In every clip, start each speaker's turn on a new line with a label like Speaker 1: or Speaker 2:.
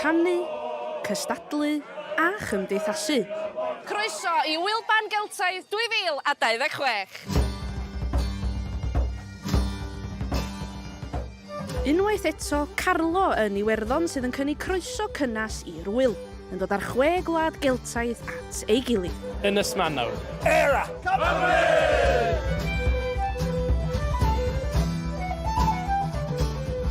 Speaker 1: Canu, cystadlu a chymdeithasu. Croeso i Ŵyl-ban Geltaidd 2026! Unwaith eto, Carlo yn Iwerddon sydd yn cynnig croeso cynnes i'r ŵyl. yn dod â'r chwe gwlad Geltaidd at ei gilydd. Ynys Manaw. Era! Cymru!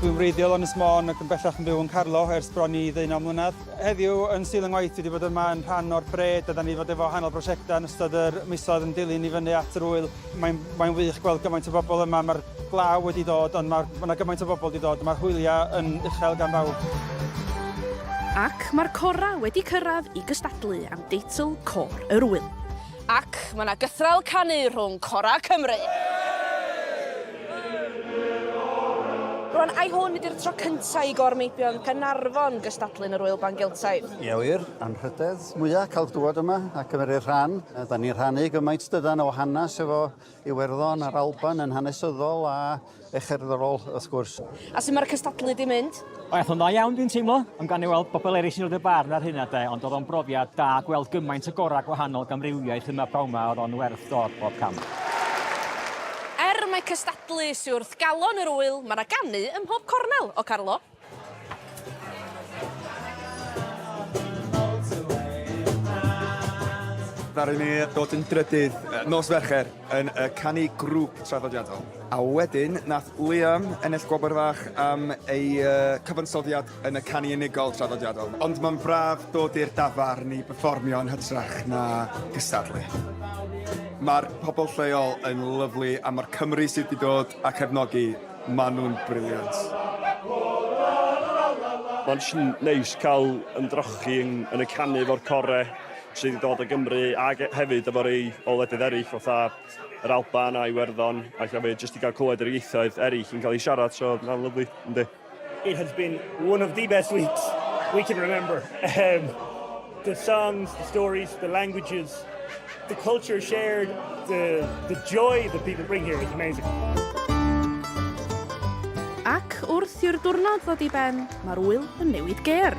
Speaker 1: Dwi'n wreiddiol yn Ysmôn ac yn bellach yn byw yn Carlo ers bron i ddeunaw mlynedd. Heddiw, yn stil yng ngwaith, fi wedi bod yma yn rhan o'r bred a da ni wedi bod efo hanol brosiectau yn ystod yr misoedd yn dilyn i fyny at yr wyl. Mae'n, mae'n wych gweld gymaint o bobl yma, mae'r glaw wedi dod, ond mae ma yna gymaint o bobl wedi dod, mae'r hwyliau yn uchel gan bawb. Ac mae'r corau wedi cyrraedd i gystadlu am deitl Côr yr Ŵyl. Ac mae yna gythraul canu rhwng corau Cymru! Rwan, ai hwn ydy'r tro cyntaf i Gor Meibion Caernarfon gystadlu yn yr Ŵyl Ban Geltaidd? Ie wir, anrhydedd. mwya ca'l dŵad yma a cymeru rhan. A 'dan ni'n rhannu gymaint dydan o hanes efo Iwerddon a'r Alban yn hanesyddol a e cherddorol wrth gwrs. A su' ma'r cystadlu 'di mynd? O ath o'n dda iawn dwi'n teimlo. Ond gawn ni weld bobol eryll sy'n roid y barn ar hynna 'de ond o'dd o'n brofiad da gweld gymaint o gora' gwahanol gamrywiaeth yma prawn 'ma o'dd o'n werth dod bob cam. Er mai cystadlu sy wrth galon yr ŵyl ma' 'na ganu ym mhob cornel, o Carlo? Ddaru ni ddod yn drydydd nos Fercher yn y canu grŵp traddodiadol. A wedyn, nath Liam ennill gwobr fach am ei cyfansoddiad yn y canu unigol traddodiadol. Ond mae'n braf dod i'r dafarn i berfformio yn hytrach na cystadlu. Mae'r pobl lleol yn lyfli a mae'r Cymry sydd wedi dod a cefnogi Maen nhw'n brilliant. Mae'n sy'n neis cael ymdrochi yn y canu fo'r core sydd wedi dod o Gymru ac hefyd efo rei o ledydd eraill fatha yr Alban a Iwerddon ac hefyd jyst i gael clywed yr ieithoedd eraill yn cael ei siarad so mae'n lyflu yndi. It has been one of the best weeks we can remember. Yym. The songs, the stories, the languages, the culture shared, the, the joy that people bring here is amazing. Ac wrth i'r diwrnod ddod i ben, mae'r wyl yn newid ger.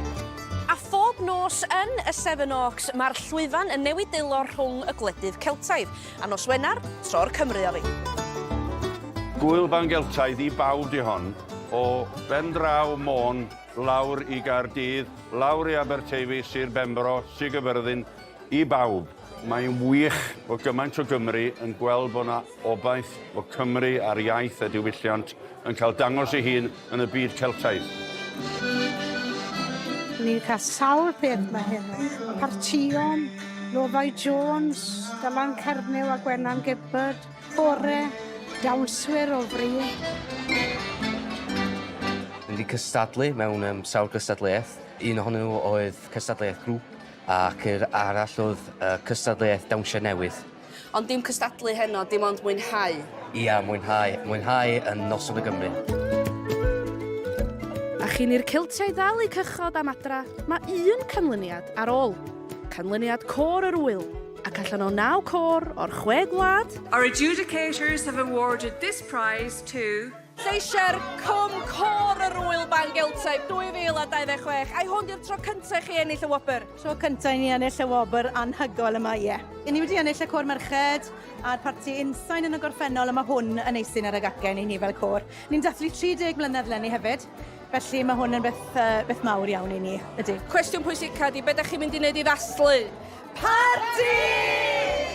Speaker 1: A phob nos yn y Seven Oaks, mae'r llwyfan yn newid dwylo rhwng y gwledydd Celtaidd. A nos Wener, tro'r Cymru o fi. Gwyl fan Geltaidd i bawb di hon, o ben draw Môn Lawr i Gaerdydd, lawr i Aberteifi, Sir Benfro, Sir Gaerfyrddin, i bawb. Mae'n wych bod gymaint o Gymry yn gweld bod 'na obaith bod Cymru a'r iaith a diwylliant yn cael dangos ei hun yn y byd Celtaidd. Ni'n cael sawl peth ma hyn. Partïon, Lofau Jones, Dylan Cernyw a Gwenan Gibbard. Bore, dawnswyr o fri. Dwi wedi cystadlu mewn um, sawl cystadleuaeth. Un ohonyn nhw oedd cystadleuaeth grŵp ac yr arall oedd uh, cystadleuaeth dawnsio newydd. Ond dim cystadlu heno, dim ond mwynhau. Ia, mwynhau. Mwynhau yn noson y Gymru. A chyn i'r Celtiaid ddal eu cychod am adra, mae un canlyniad ar ôl. Canlyniad Côr yr Ŵyl. ac allan o naw côr o'r chwe gwlad. Our adjudicators have awarded this prize to Lleisiau'r Cwm Côr yr Ŵyl Ban Geltaidd 2026. Ai hwn di'r tro cyntaf i chi ennill y wobr? Tro cyntaf i ni ennill y wobr anhygoel yma, ie. I ni wedi ennill y Côr Merched a'r parti Unsain yn y gorffennol a mae hwn yn eistedd ar y gacen i ni fel côr. Ni'n dathlu 30 mlynedd lenni hefyd, felly mae hwn yn beth, uh, beth mawr iawn i ni, ydy. Cwestiwn pwysica di, be da chi'n mynd i wneud i ddathlu? Parti!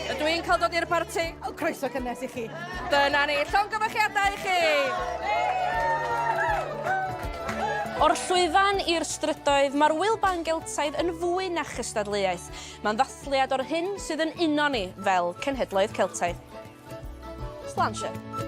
Speaker 1: Ydw i'n cael dod i'r parti? O, croeso cynnes i chi. Dyna ni, llongyfarchiadau i chi! O'r llwyfan i'r strydoedd, mae'r Ŵyl Ban Geltaidd yn fwy na chystadleuaeth. Mae'n ddathliad o'r hyn sydd yn uno ni fel cenhedloedd Celtaidd. Slanshire.